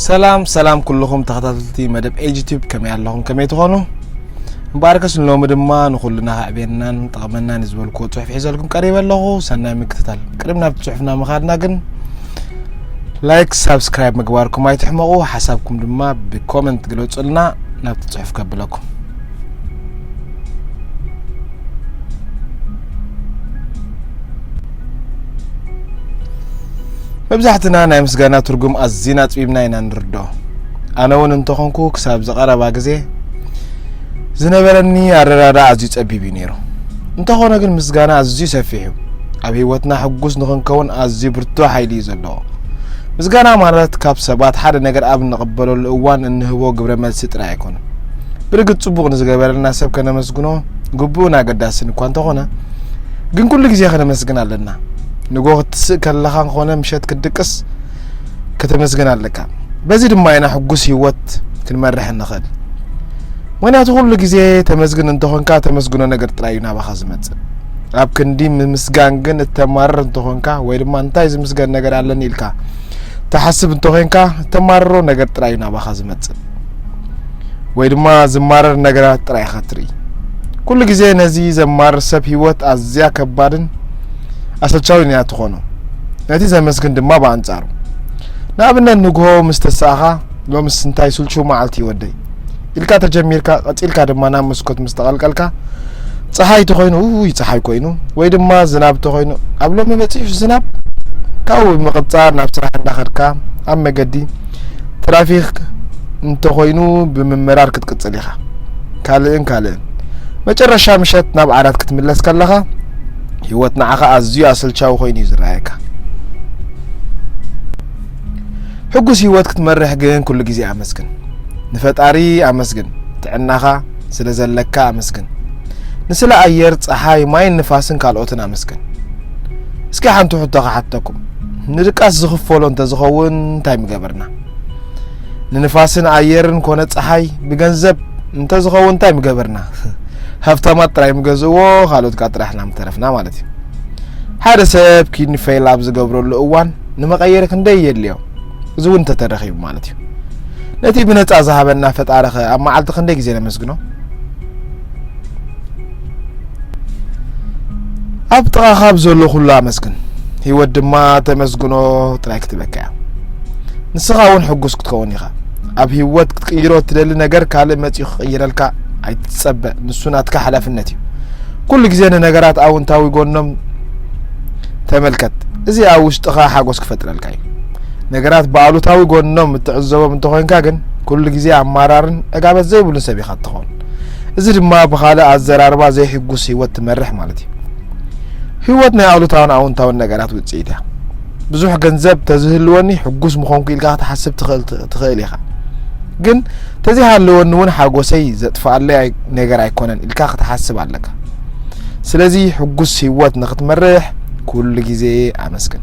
ሰላም ሰላም ኩልኹም ተኸታተልቲ መደብ ኤጅ ቲዩብ ከመይ ኣለኹም ከመይ ትኾኑ እምበኣርከስ ንሎሚ ድማ ንኹልና ከዕብየናን ጠቕመናን ዝበልክዎ ፅሑፍ ሒዘልኩም ቀሪበ ኣለኹ ሰናይ ምክትታል ቅድሚ ናብቲ ፅሑፍና ምኻድና ግን ላይክ ሳብስክራይብ ምግባርኩም ኣይትሕመቑ ሓሳብኩም ድማ ብኮመንት ግለፁልና ናብቲ ፅሑፍ ከብለኩም መብዛሕትና ናይ ምስጋና ትርጉም ኣዝና ኣጽቢብና ኢና ንርዶ ኣነ እውን እንተኾንኩ ክሳብ ዝቐረባ ግዜ ዝነበረኒ ኣረዳዳ ኣዝዩ ጸቢብ እዩ ነይሩ እንተኾነ ግን ምስጋና ኣዝዩ ሰፊሕ እዩ ኣብ ህይወትና ሕጉስ ንኽንከውን ኣዝዩ ብርቱ ሓይሊ እዩ ዘለዎ ምስጋና ማለት ካብ ሰባት ሓደ ነገር ኣብ እንቕበለሉ እዋን እንህቦ ግብረ መልሲ ጥራይ ኣይኮነ ብርግፅ ፅቡቕ ንዝገበረልና ሰብ ከነመስግኖ ግቡእን ኣገዳስን እኳ እንተኾነ ግን ኩሉ ግዜ ከነመስግን ኣለና ንጎ ክትስእ ከለኻ ኮነ ምሸት ክትድቅስ ከተመስግን ኣለካ በዚ ድማ ኢና ሕጉስ ህይወት ክንመርሕ ንኽእል ምክንያቱ ኩሉ ግዜ ተመስግን እንተኾንካ ተመስግኖ ነገር ጥራይ እዩ ናባኻ ዝመፅእ ኣብ ክንዲ ምምስጋን ግን እተማርር እንተኾንካ ወይ ድማ እንታይ ዝምስገን ነገር ኣለኒ ኢልካ ተሓስብ እንተኾንካ እተማርሮ ነገር ጥራይ እዩ ናባኻ ዝመፅእ ወይ ድማ ዝማረር ነገራት ጥራይ ኢኻ ትርኢ። ኩሉ ግዜ ነዚ ዘማርር ሰብ ህይወት ኣዝያ ከባድን ኣሰልቻዊን እያ ትኾኖ። ነቲ ዘመስግን ድማ ብኣንጻሩ። ንኣብነት ንግሆ ምስ ተሳእኻ ሎምስ እንታይ ስልቹው መዓልቲ ወደይ ኢልካ ተጀሚርካ ቀጺልካ ድማ ናብ መስኮት ምስ ተቐልቀልካ ፀሓይ ተኾይኑ ውይ ፀሓይ ኮይኑ ወይ ድማ ዝናብ ተኾይኑ ኣብ ሎሚ በፂሑ ዝናብ ካብኡ ብምቕፃር ናብ ስራሕ እንዳኸድካ ኣብ መገዲ ትራፊክ እንተኾይኑ ብምምራር ክትቅጽል ኢኻ ካልእን ካልእን መጨረሻ ምሸት ናብ ዓራት ክትምለስ ከለኻ ህይወት ንዓኻ ኣዝዩ ኣሰልቻዊ ኮይኑ እዩ ዝረኣየካ ሕጉስ ህይወት ክትመርሕ ግን ኩሉ ግዜ ኣመስግን ንፈጣሪ ኣመስግን ጥዕናኻ ስለ ዘለካ ኣመስግን። ንስለ ኣየር፣ ጸሓይ፣ ማይን ንፋስን ካልኦትን ኣመስግን። እስኪ ሓንቲ ሕቶ ክሓተኩም፣ ንድቃስ ዝኽፈሎ እንተዝኸውን እንታይ ምገበርና? ንንፋስን ኣየርን ኮነ ጸሓይ ብገንዘብ እንተዝኸውን እንታይ ምገበርና? ሃብታማት ጥራይ ምገዝእዎ ካልኦት ካ ጥራሕ ኢና ምተረፍና ማለት እዩ። ሓደ ሰብ ኪድኒ ፌል ኣብ ዝገብረሉ እዋን ንመቐየሪ ክንደይ የድልዮ? እዚ እውን እንተተረኺቡ ማለት እዩ ነቲ ብነፃ ዝሃበና ፈጣሪ ኸ ኣብ መዓልቲ ክንደይ ግዜ ነመስግኖ ኣብ ጥቓ ካብ ዘሎ ኩሉ ኣመስግን ህይወት ድማ ተመስግኖ ጥራይ ክትብለካ እያ ንስኻ እውን ሕጉስ ክትከውን ኢኻ ኣብ ህይወት ክትቅይሮ እትደሊ ነገር ካልእ መፅኡ ክቕይረልካ ኣይትፀበ ንሱ ናትካ ሓላፍነት እዩ ኩሉ ግዜ ንነገራት ኣውንታዊ ጎኖም ተመልከት እዚ ኣብ ውሽጥኻ ሓጎስ ክፈጥረልካ እዩ ነገራት ብኣሉታዊ ጎኖም እትዕዘቦም እንተኾይንካ ግን ኩሉ ግዜ ኣማራርን ዕጋበት ዘይብሉን ሰብ ኢኻ እትኸውን እዚ ድማ ብካልእ ኣዘራርባ ዘይሕጉስ ህይወት ትመርሕ ማለት እዩ ህይወት ናይ ኣሉታውን ኣውንታውን ነገራት ውፅኢት እያ ብዙሕ ገንዘብ ተዝህልወኒ ሕጉስ ምኾንኩ ኢልካ ክትሓስብ ትኽእል ኢኻ ግን ተዘይሃለወኒ እውን ሓጎሰይ ዘጥፍኣለይ ነገር ኣይኮነን ኢልካ ክትሓስብ ኣለካ ስለዚ ሕጉስ ህይወት ንክትመርሕ ኩሉ ግዜ ኣመስግን